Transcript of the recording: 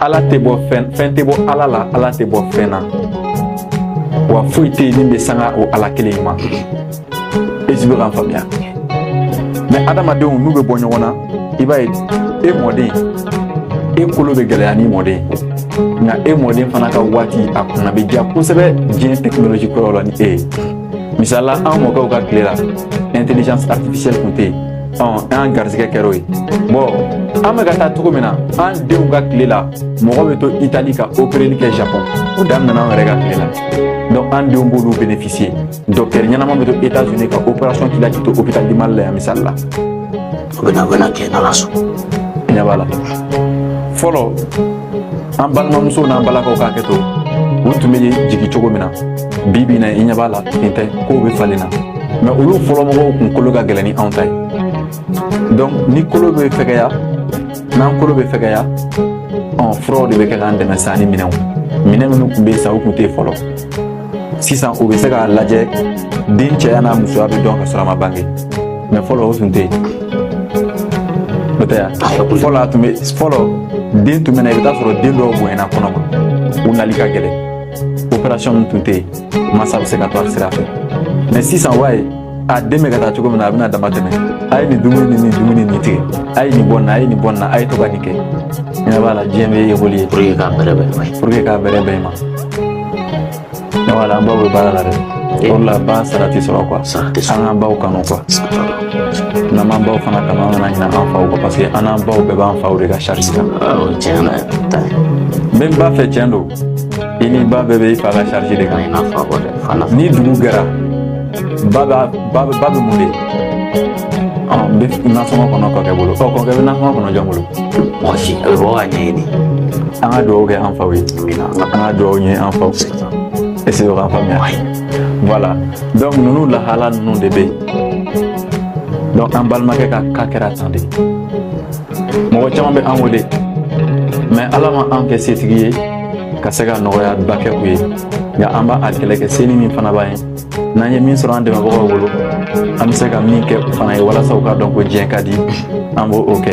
Ala tɛ bɔ fɛn fɛn tɛ bɔ Ala la Ala tɛ bɔ fɛn na wa foyi tɛ yen min bɛ sanga o Ala kelen in ma est-ce i bɛ k'an faamuya mɛ adamadenw n'u bɛ bɔ ɲɔgɔn na i b'a ye e mɔden e kolo bɛ gɛlɛya ni mɔden nka e mɔden fana ka waati a kunna bɛ diya kosɛbɛ diɲɛ technologie kɔrɔ la ni e ye misali la an mɔkɛw ka tile la intelligence artificielle tun tɛ yen an garisɛgɛ kɛra o ye bɔn an bɛka ka taa cogo min na an denw ka tile la mɔgɔ bɛ to Italie ka opereli kɛ Japon o daminɛna an yɛrɛ ka tile la donc an denw b'olu bénéficier docteur ɲɛnama bɛ to États-Unis ka opération k'i la k'i to hôpital du Mali la misali la o bɛna kɛ n'ala sɔn ɲɛ b'a la fɔlɔ an balimamusow n'an balakaw ka hakɛ to u tun bɛ jigin cogo min na bi bi in na i ɲɛ b'a la nin tɛ kow bɛ falen na mɛ olu fɔlɔmɔgɔw kun kolo ka gɛlɛn ni anw ta ye donc ni kolo bɛ fɛgɛya n'an kolo bɛ fɛgɛya ɔ furaw de bɛ kɛ k'an dɛmɛ sa ni minɛnw minɛn minnu tun bɛ yen sa u tun tɛ yen fɔlɔ sisan u bɛ se k'a lajɛ den cɛya n'a musoya bɛ dɔn ka sɔrɔ a ma bange mɛ fɔlɔ o tun tɛ yen n'o tɛ yan fɔlɔ a tun bɛ fɔlɔ den tun bɛ na i bɛ taa sɔrɔ den dɔw bonyana kɔnɔ ma u nali ka gɛlɛn opération ninnu tun tɛ yen masa bɛ se ka to a sira fɛ mɛ sisan wa ye a den bɛ ka taa cogo min na a bɛna dama tɛmɛ a ye nin dumuni ni nin dumuni nin tigɛ a ye nin bɔ nin na a ye nin bɔ nin na a ye to ka nin kɛ ɲɛ b'a la diɲɛ bɛ évoluer pour que k'a bɛrɛ bɛn ma pour que k'a bɛrɛ bɛn ma ɲɛ b'a la an baw bɛ baara la dɛ o de la ba sara tɛ sɔrɔ quoi an k'an baw kanu quoi n'an b'an baw fana kanu an kana ɲinɛ an faw kɔ parce que an n'an baw bɛɛ b'an faw de ka charge kan n bɛ n ba fɛ tiɲɛ don i ni ba bɛɛ bɛ i fa ka charge de kan ni dugu gɛra ba bɛ ba bɛ mun de bɛ nasɔngɔ kɔnɔ kɔkɛ bolo ɔ kɔkɛ bɛ nasɔngɔ kɔnɔ jɔn bolo mɔgɔ si a bɛ bɔ k'a ɲɛɲini an ka dugawu kɛ an faw ye an ka dugawu kɛ an faw ye est-ce i bɛ k'a faamuya voilà donc ninnu lahala ninnu de bɛ yen donc an balimakɛ ka ka kɛra tan de mɔgɔ caman bɛ an wele mɛ ala ma an kɛ setigi ye ka se ka nɔgɔya ba kɛ u ye nka an b'a kɛlɛ kɛ senin min fana b'an ye n'an ye min sɔrɔ an dɛmɛbagaw bolo an bɛ se ka min kɛ u fana ye walasa u k'a dɔn ko diɲɛ ka di an b'o kɛ